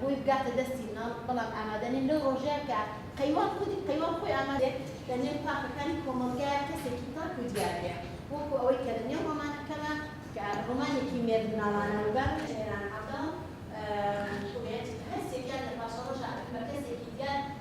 بۆی بگاتە دەستی مناڵ، بەڵام ئامادە نیم لەو ڕۆژەیە کە قەیوان خودی قەیوان خۆی ئامادەیە لە نێو پاکەکانی کۆمەڵگایە کەسێکی پاک و دیار بێ وەکو ئەوەی کە لە نێو ڕۆمانەکەمە کە ڕۆمانێکی مێردمناڵانە و بە ئێران عەبداڵ خوبێت هەر سێکیان لە پاشەڕۆژا ئەبن بە کەسێکی دیار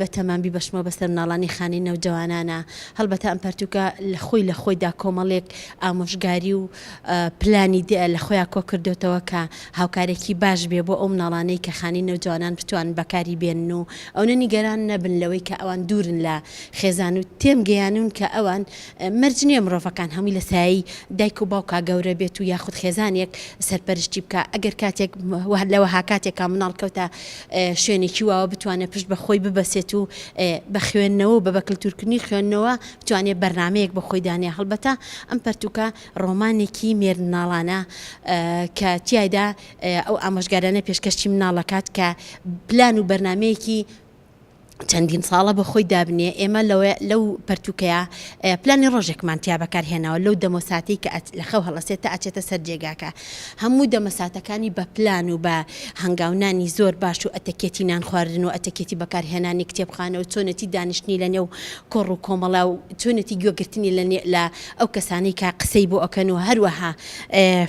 بەتەمام بیبەشمەوە بەسەر مناڵانی خانەی نەوجەوانانا، هەڵبەتە ئەم پەرتووکە خۆی لە خۆیدا کۆمەڵێک ئامۆژگاری و پلانی دی لە خۆیا کۆکردۆتەوە کە هاوکارێکی باش بێ بۆ ئەو مناڵانەی کە خانەی نەوجەوانان بتوانن بەکاری بێنن و ئەونە نیگەران نەبن لەوەی کە ئەوان دوورن لە خێزان و تێمگەیانوون کە ئەوان مەرج نیە مرۆڤەکان هەمووی لە سایەی دایک و باوکا گەورە بێت و یاخود خێزانێک سەرپەرشتی بکا، ئەگەر کاتێک لە وەها کاتێکا مناڵ کەوتە شوێنێکی واوە بتوانێت پشت بە خۆی ببەسێت و بە خوێندنەوە و بە بە کلتورکردنی خوێندنەوە بتوانێت بەرنامەیەک بۆ خۆی دانێ هەڵبەتە ئەم پەرتوکە ڕۆمانێکی مێرد مناڵانە کە تیایدا ئەو ئامۆژگارانە پێشکەشی مناڵ ئەکات کە پلان و بەرنامەیەکی چەندین ساڵە بە خۆی دابنێ ئێمە لەوە لەو پەرتوکەیە پلانی ڕۆژێکمان تیا بەکارهێناوە لەو دەمۆساتی کە لە خەو هەڵەسێت تا ئەچێتە سەر جێگاکە هەموو دەمەساتەکانی بە پلان و بە هەنگاونانی زۆر باش و ئەتەکێتی نان خواردن و ئەتەکێتی بەکارهێنانی کتێبخانە و چۆنێتی دانیشتنی لە نێو کۆڕ و کۆمەڵا و چۆنێتی گوێگرتنی لە لە ئەو کەسانی کە قسەی بۆ ئەکەن و هەروەها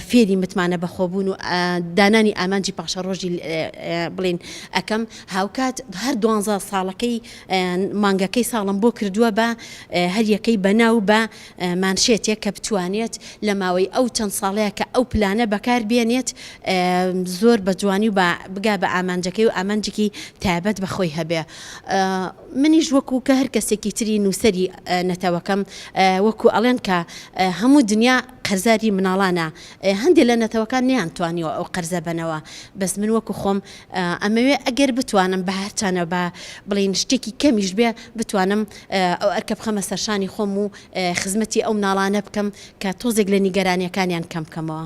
فێری متمانە بەخۆبوون و دانانی ئامانجی پاشە ڕۆژی بڵین ئەەکەم هاوکات هەر دوانزە ساڵەکەی مانگەکەی ساڵم بۆ کردووە بە هەریەکەی بەناو بە مانشێتێک کە بتوانێت لە ماوەی ئەو چەند ساڵەیە کە ئەو پلانە بەکار بێنێت زۆر بە جوانی و بە بگا بە ئامانجەکەی و ئامانجێکی تایبەت بە خۆی هەبێ منیش وەکو کە هەر کەسێکی تری نووسری نەتەوەکەم وەکو ئەڵێن کە هەموو دنیا قەرزاری مناڵانە هەندێک لە نەتەوەکان نیان توانیوە ئەو قەرزە بنەوە بەس من وەکو خۆم ئەمەوێ ئەگەر بتوانم بە هەرچانە با بڵێین شتێکی کەمیش بێ بتوانم ئەو ئەرکە بخەمە سەرشانی خۆم و خزمەتی ئەو مناڵانە بکەم کە تۆزێک لە نیگەرانیەکانیان کەم بکەمەوە.